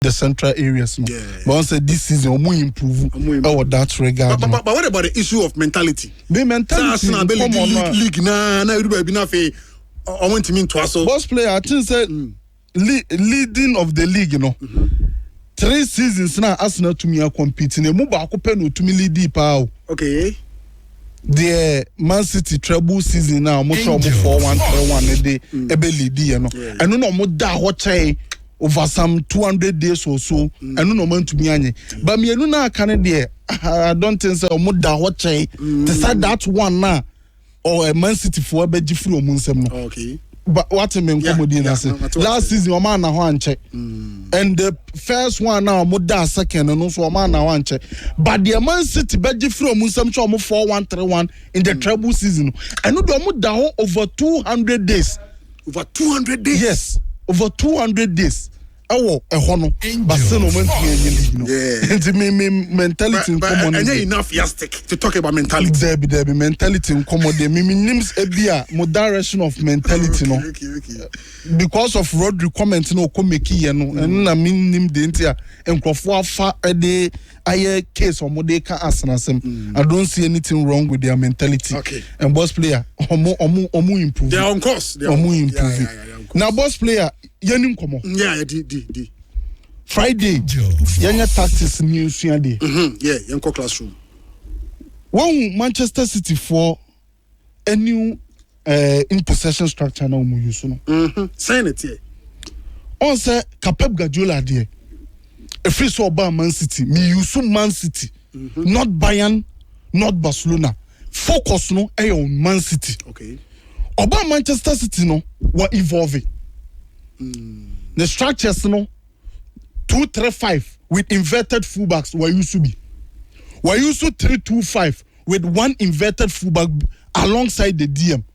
the central areas no yeah. but say this season omu improve ɛwɔ oh, that regard but, but, but what about the issue of mentality me mentality sɛ asena league league league na na edu baabi na afei ɔmo ntumi ntoa so boss player i think say mm. le leading of the league you know. Mm -hmm. three seasons na asena tumi a compete na emu baako pɛ na otumi lead paa o. okay. deɛ man city treble season a wɔn sɛ wɔn four one three one ne de ɛbɛ lead yɛ no ɛno na wɔn da hɔ kyɛe over some two hundred days or so ɛno na wɔn antumi anye ba mmienu na aka no deɛ i don't think sɛ wɔn da hɔ kyɛe te sɛ that one na ɔ man city foɔ ɛbɛgye firi wɔn nsam no. Okay. But what me nkomodi na se last season o ma na ho anche. Mm. And the first one now mo da second no so o ma na ho anche. But the Man City be gi free mo nsam che o mo 4131 in the mm. treble season. And no do mo da ho over 200 days. Over 200 days. Yes, over 200 days. ɛwɔ ɛhɔ no but still na wɔn ntumi ɛnyɛ league no Yeah. nti me me mentality But- but nkɔmɔ no ɛnyɛ deɛ enough yastic to talk about mentality dɛbi dɛbi mentality nkɔmɔ deɛ me me nim s- ebi a mo direction of mentality no Okay, okay, okay. because of Rodri comment na ɔkɔ make yɛ no ɛno na me nim deɛ nti a nkurɔfoɔ afa ɛde ayɛ case wɔn de ka asena asɛm I don't see anything wrong with their mentality Okay. and boss player wɔn wɔn wɔn improve They are on course. They are on wɔn course. improve Yeah, yeah, yeah, yeah, on course. na boss player Yɛnni nkɔmmɔ. Yeah, yeah, di, di, di. Friday, yɛnyɛ tactics ne yɛnsua deɛ. Mm-hmm, yeah, yɛnkɔ classroom. Wɔhu Manchester City foɔ a new uh, in possession structure na wɔn use no. Mm-hmm, sɛn na teɛ. Ɔn sɛ ka Pep Guardiola deɛ, efiri sɛ ɔbaa Man City, mi use Man City. not Bayern not Barcelona focus no yɛ on Man City ɔbaa Manchester City no wɔ evolve ne structures no two three five with inverted fullbacks wɔ use bi wɔ use three two five with one inverted fullback alongside the DM.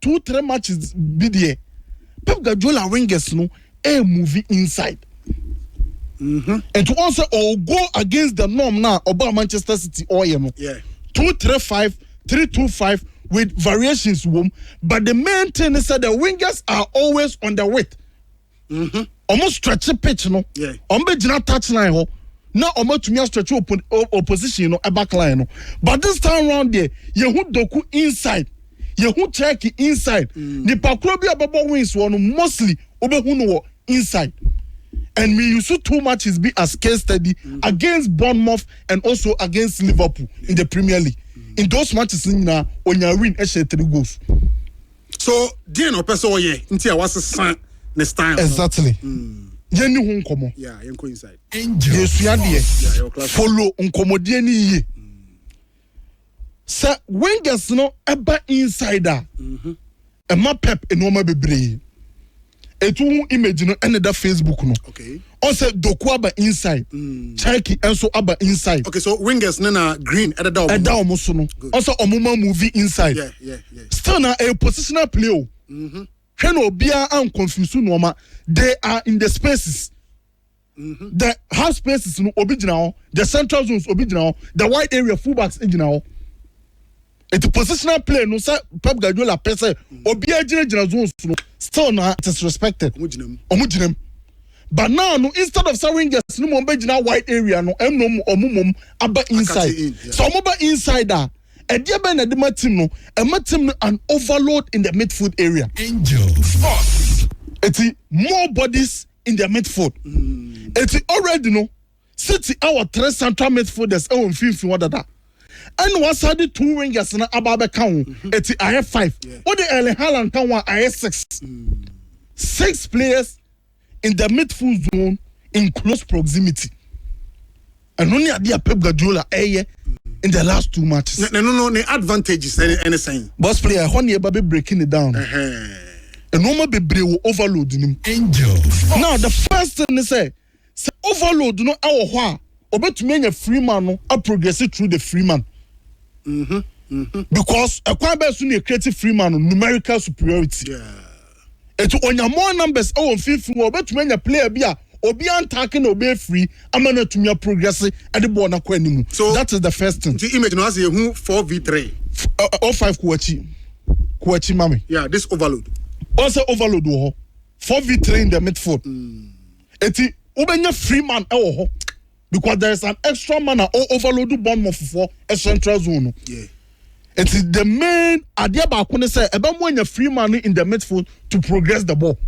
two three matches bi deɛ Pep Guardiola wingers no ɛyɛ move inside ɛti wɔn sɛ ɔwɔ go against the norm na ɔbaa Manchester City ɔyɛ no two three five three two five with variations wɔm but the main thing is that the wingers are always on the width. wɔn stretche pitch no wɔn bɛ gyina touch line hɔ na wɔn atumi astretche opposition no back line no but this time round deɛ yɛhu doku inside yɛhu turkey inside mm. nipa koro bi a ɔbɛbɔ wings wɔ no mostly wobɛhu no wɔ inside and we use two matches be as case study mm. against Bournemouth and also against Liverpool in the Premier League mm. in those matches nyinaa onya win ɛhyɛ three goals. So deɛn na ɔpɛ sɛ ɔyɛ nti a wasesa ne style no? Exactly. Yɛnni ho nkɔmmɔ. Yeah, yɛnkɔ inside. Angel. Yɛsua deɛ. Yeah, yɛwɔ class. Follow nkɔmmɔdie no yie. Sɛ Wengers no ba inside a, ɛma Pep nnoɔma bebree. etu ho image no ɛna ɛda facebook no okay ɔsɛ doku aba inside mm. turkey ɛnso aba inside okay so wingers ne na green ɛdeda ɔmo ɛda ɔmo so no ɔsɛ ɔmo ma movie inside yeah, yeah, yeah. still na a positional play o mm-hmm. hwɛ na obiara anconfuse nneɛma they are in the spaces. Mm-hmm. The half spaces no obi gyina hɔ. The central zones obi gyina hɔ. The wide area fullbacks gyina hɔ. Eti positional play no sɛ Pep Guardiola pɛ sɛ obi agyinagyina zones no still na it is respected. Ɔmo gyina mu. Ɔmo gyina mu. But now no instead of sɛ wingers no mo ɔmo bɛgyina wide area no ɛmu no ɔmo mom aba inside. In, yeah. Sɛ ɔmo ba inside a ɛdeɛ bɛn na ɛde ma team no ɛma team no an overload in the midfield area. Angel sports. Eti more bodies in their midfield. Mm. Eti already no City ɛwɔ three central midfielders ɛwɔ mfimfini hɔ dada. Ɛna wɔsan de two wingers na aba abɛka ho. Mm-hmm. Eti ayɛ five. Wode yeah. Erling Haaland ka ho a ayɛ six. Mm. Six players in the midfield zone in close proximity. Ɛno ne adeɛ a Pep Guardiola ɛyɛ in the last two matches. Na ɛno no ne advantages ɛne ɛne sɛn? Boss player ɛhɔ ne ɛba bɛ breaking it down. Nneɛma bebree wɔ overload no mu. Angels. Now the first thing ne sɛ sɛ overload no ɛwɔ hɔ a ɔbɛtumi anya free man no a progress through the free man. Mm-hmm. Mm-hmm. Because ɛkwan bɛɛ so ne create free man no numerical superiority. Yeah. Enti onya more numbers wɔ mfimfini hɔ a obetumi anya player bi a obiara ntaake na ɔbɛyɛ free ama no atumi aprogrɛse de bɔɔl no akɔ anim. So, That is the first thing. nti image no ha sɛ yɛhu 4v3. F, ɛ, ɛ, ɔ five kɔ akyi. Kɔ akyi ma me. Yeah, this overload. Ɔn sɛ overload wɔ hɔ. 4v3 in the midfield. Enti wobɛnya free man wɔ hɔ. because there is an extra man a o overload bɔnmɔ fofoɔ eh, central zone no yeah. it is the main adeɛ baako ne sɛ ɛbɛ mu anya free man in the midfield to progress the ball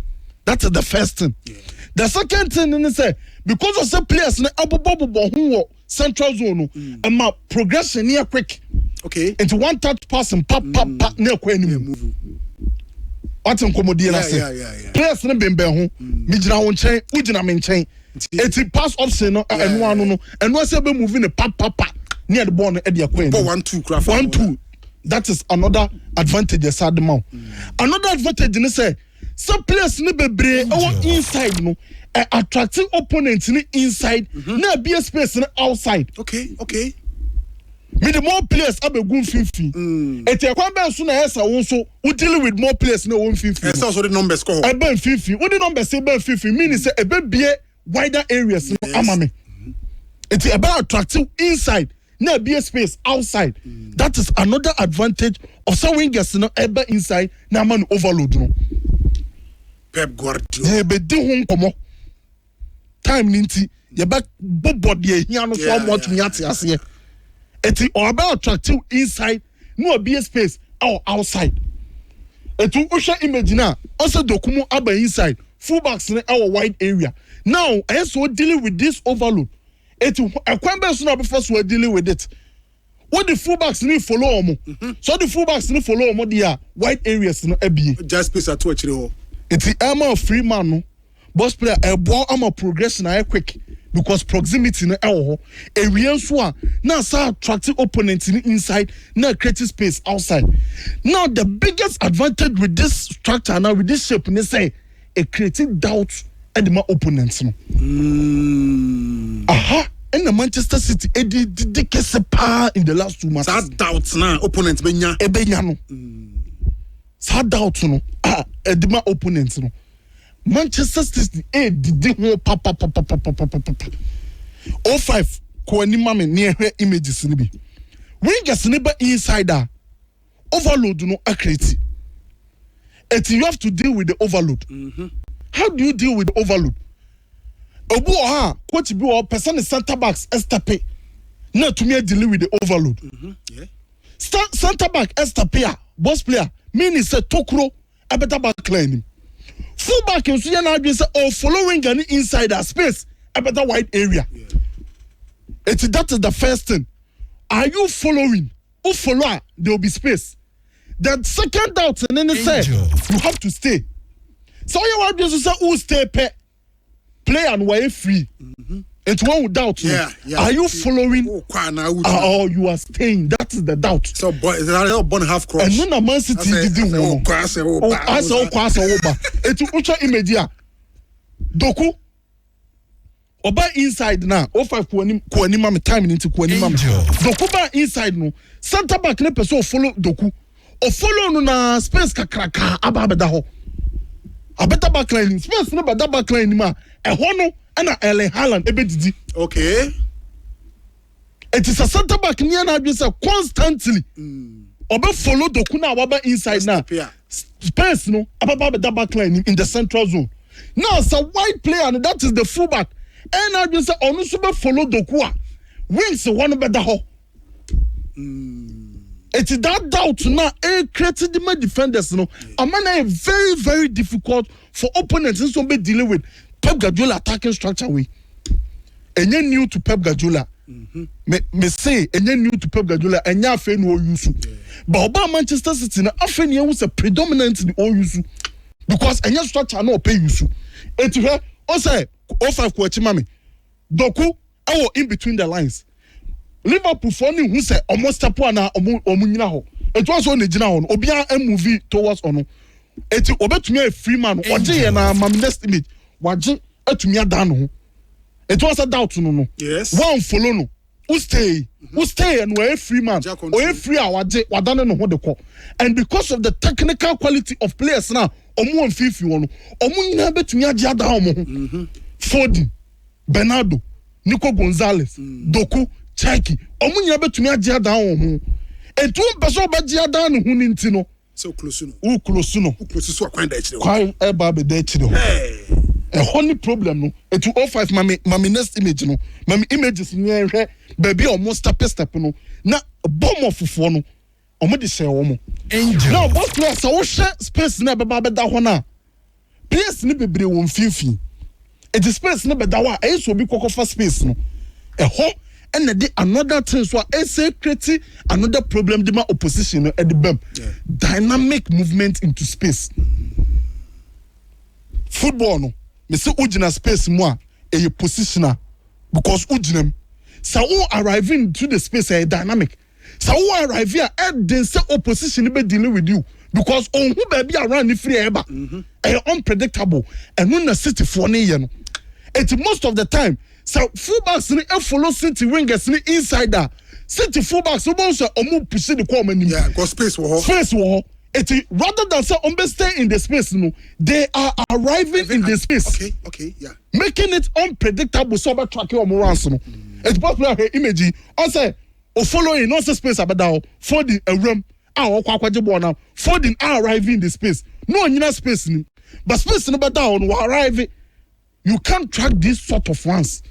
that is the first thing yeah. the second thing ne sɛ because of sɛ players no ɛbobɔ bobɔ ho wɔ central zone no mm. ɛma mm. progression ne yɛ quick okay nti one touch passing pa pa mm. pa ne ɛkɔ anim. Yeah, wate nkɔmmɔdie no ase players no bembɛn ho megyina wo nkyɛn wogyina me nkyɛn Eti pass option no a ɛno ano no ɛno asɛ bɛ move no papapa ne yɛde bɔɔl no ɛde akɔ anim. Bɔ one two kura fa. One two that is another advantage ɛsa de ma o. Another advantage ne sɛ sɛ players ne bebree ɛwɔ inside no ɛ attracting opponent ne inside na ɛbie space no outside. Okay okay. Mede more players abegu mfimfini. Enti ɛkwan bɛn so na ɛyɛ sɛ wo nso wo deal with more players na ɛwɔ mfimfini no? Ɛsɛ sɛ wode numbers kɔ hɔ. Ɛba mfimfini. Wode numbers ba mfimfini meaning sɛ ɛbɛbue wider areas no ama me. Enti ɛbɛ attract inside na abue space outside. That is another advantage of sɛ wingers no ɛba inside na ama no overload no. Pep Guardiola. Na ɛbɛdi ho nkɔmmɔ. time ni nti yɛbɛ bobɔ deɛ ehia no so Yeah, ɔmo yeah, atumi yeah, ate yeah, aseɛ eti ɔbɛ attractive inside na obi yɛ space ɛwɔ outside etu wohwɛ image na ɔsɛ dokumu aba inside full backs no ɛwɔ wide area now ɛyɛ so dealing with this overload eti hɔ- ɛkwan bɛyɛ so na ɔbɛfa so dealing with it Wo de full backs no follow wɔn. Sɛ ɔde full backs no follow wɔn deɛ a, wide areas no abie. Gya space ato akyire hɔ. Nti ɛma free man no box player ɛboa ama progression ayɛ quick because proximity no ɛwɔ hɔ. Ewie nso a na asa attract opponent no inside na create space outside. Now the biggest advantage with this structure anaa with this shape ne sɛ. e create doubt de ma opponent no. Aha na Manchester City adi didi kɛse paa in the last two matches. Saa doubt na opponent bɛnya. Ɛbɛnya no. Saa doubt no a ɛde ma opponent no. Manchester City ɛredidi ho papapapapapapapa. 05 kɔ anim ma me ne ɛhwɛ images no bi. Rangers ne ba inside a overload no akreti eti you have to deal with the overload mm-hmm. how do you deal with the overload obi wɔ ha coach bi wɔ pɛsɛ ne center backs ɛstɛpe na atumi adili with the overload mm-hmm. yeah. center back ɛstɛpe a boss player meaning sɛ tokuro ɛbɛda back line nim full back nso yɛ n'adwene sɛ ɔ oh, follow winger ne inside a space ɛbɛda wide area eti yeah. that is the first thing are you following. wo follow a there will be space the second doubt ne ne sɛ you have to stay sɛ woyɛ w'adwene so sɛ wo stay pɛ player no wɔyɛ free mm-hmm. nti wɔn wo doubt no yeah, yeah. are you following oh, ah, or you are staying that is the doubt so born so born half cross ɛnu na man city didi hu no asɛ okɔ asɛ okɔ ba etu wotwa image a doku. Ɔba inside na o five kɔ anim kɔ anim ma me time ne nti kɔ anim ma me. Doku ba inside no center back ne pɛ sɛ ɔfollow Doku. Ɔfollow no na space kakraka aba abɛda hɔ. Abɛda backline nim space no bɛda backline nim a ɛhɔ no ɛna Erling Haaland ɛbɛdidi. Okay. Enti sɛ center back ni na adwene sɛ constantly ɔbɛ follow doku na waba inside na space no ababa abɛda back line in the central zone. Now sɛ wide player no that is the full back ɛyɛ na adwene sɛ ɔno nso bɛ follow doku a wings hɔ no bɛda hɔ. Eti mm. that doubt na a create the defenders no ama na very very difficult for opponents nso wɔn bɛ deal with Pep Guardiola attacking structure wei ɛnyɛ new to Pep Guardiola mhm. me me say ɛnyɛ new to Pep Guardiola ɛnyɛ afei na ɔyu so ba ɔbaa Manchester City na afei na ehu sɛ predominantly ɔyu so because ɛnyɛ structure na ɔpɛ yu so eti hwɛ ɔsɛ o five kɔ akyi ma mi dɔku. ɛwɔ in between the lines Liverpool foɔ ne hu sɛ ɔmo step anaa ɔmo ɔmo nyina hɔ etu aso ɔna egyina hɔ no obiara ɛmuvi towards ɔno eti obetumi ayɛ free man no ɔgye yɛ na ama me next image wagye atumi adan ne ho eti wasa doubt no no Yes. wɔn follow no wo stay wo stay yɛ no ɔyɛ free man Gya control. ɔyɛ free a wagye wadane ne ho de kɔ and because of the technical quality of players na ɔmo wɔ mfimfini hɔ no ɔmo nyinaa betumi agye adan ɔmo ho folding. Bernardo, Nico Gonzalez, Doku, Cherki, wɔn nyinaa bɛtumi agye adan wɔn ho. Enti wompɛ sɛ ɔbɛgye adan ne ho no nti no, sɛ woklosu no, woklosu no, woklosu so a kwan da akyire hɔ. Kwan ɛba abɛda akyire hɔ. Ɛhɔ ne problem no. Enti o five ma me ma me next image no, ma me images no yɛnhwɛ baabi a wɔn step step no na bɔ mmɔfofoɔ no. wɔde hyɛɛ wɔn. Angel. Now both no a sɛ wohwɛ space no a ɛbɛba abɛda hɔ no a, players no bebree wɔ mfimfini. Eti space no bɛda hɔ a, ɛyɛ sɛ obi kɔkɔfa space no. Ɛhɔ na ɛde another thing so a ɛsɛ create another problem de ma opposition no ɛde bam. Dynamic movement into space. Football no, mese wogyina space mu a, ɛyɛ positional because wogyina mu. Sɛ wo arrive into the space a, ɛyɛ dynamic. Sɛ wo arrive a ɛden sɛ opposition no bɛ deal with you because ɔnhu baabi a run no firi ɛɛba. Mhm. Ɛyɛ unpredictable. Ɛno na cityfoɔ no yɛ no. Eti most of the time sɛ fullbacks no follow city wingers no inside a city fullbacks no wobɛhu sɛ wɔn pusi de kɔ wɔn anim. Yeah, because space wɔ hɔ. Space wɔ hɔ. Eti rather than sɛ wɔn bɛ stay in the space no they are arriving in the space. Okay, okay, yeah. Making it unpredictable sɛ wɔbɛ track wɔn runs no. Eti pɔtɔ pɔtɔ ahwɛ image yi ɔsɛ. O following, na ɔsɛ space abɛda hɔ, Foden awuram a ɔrekɔ akɔgye bɔɔl no, Foden a arrive in the space, na ɔnyina space no mu, but space no bɛda hɔ no, wa arrive, you can't track these sort of ones.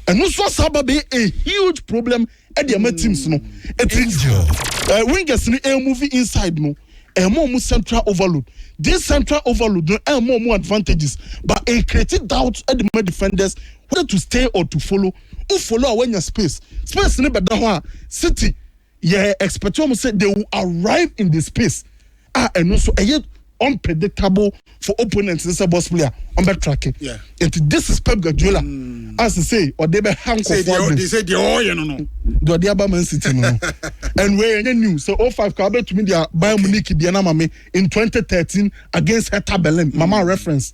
Ɛno nso asa aba bɛyɛ a huge problem de ama teams no. Ɛti eh, wingers no eh, move inside no ɛma ɔmo central overload. This central overload no ɛma ɔmo advantages but it creates doubt de ma defenders whether to stay or to follow. wo follow a wanya space space ne bɛda hɔ a city yɛ expect wɔn sɛ they will arrive in the space a ɛno nso ɛyɛ unpredictable for opponents ne sɛ boss player wɔn bɛ track it yeah. and this is Pep Guardiola mm. as I say ɔde bɛ ha nkɔfoɔ de sɛ deɛ ɔyɛ no no deɛ ɔde aba Man City no no and wei ɛnyɛ new sɛ o oh five kɔ abɛtumi deɛ Bayern Munich deɛ na ma me in twenty thirteen against Hertha Berlin mama mm. reference.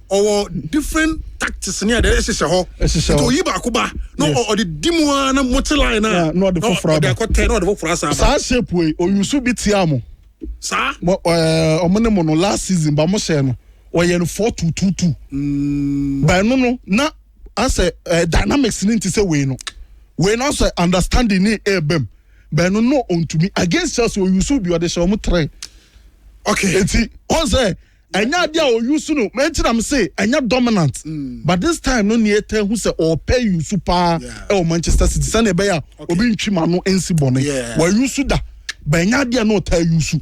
ɔwɔ different tactics ne ɛdɛ ɛhyehyɛ hɔ ɛhyehyɛ hɔ oyi baako ba na ɔde di mu ara na mote line na na ɔde foforɔ aba ɔde akɔtɛ na ɔde foforɔ asa aba saa shape wei oyusu bi tia mo saa ɛɛ ɔmo ne mo no last season ba mo hyɛ no ɔyɛ no four two two two mm. ba ɛno no na asɛ ɛɛ dynamics ne nti sɛ wei no wei no asɛ understanding ne ɛɛbɛm ba ɛno no ɔntumi against Chelsea oyusu bi ɔde hyɛ ɔmo three okay eti ɔn sɛ. Ɛnyɛ ade a ɔ use no ma enti na me se ɛnyɛ dominant but this time no nea yɛtaa hu sɛ ɔɔpɛ use paa ɛwɔ Manchester City sɛnea ɛbɛyɛ a obi ntwem ano nsi bɔne. Wa use da but ɛnyɛ ade a na ɔtaa use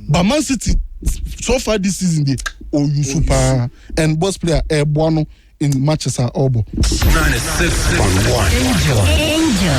but Man City so far this season deɛ ɔ use paa and boss player ɛɛboa no in matches a ɔɔbɔ. Angel.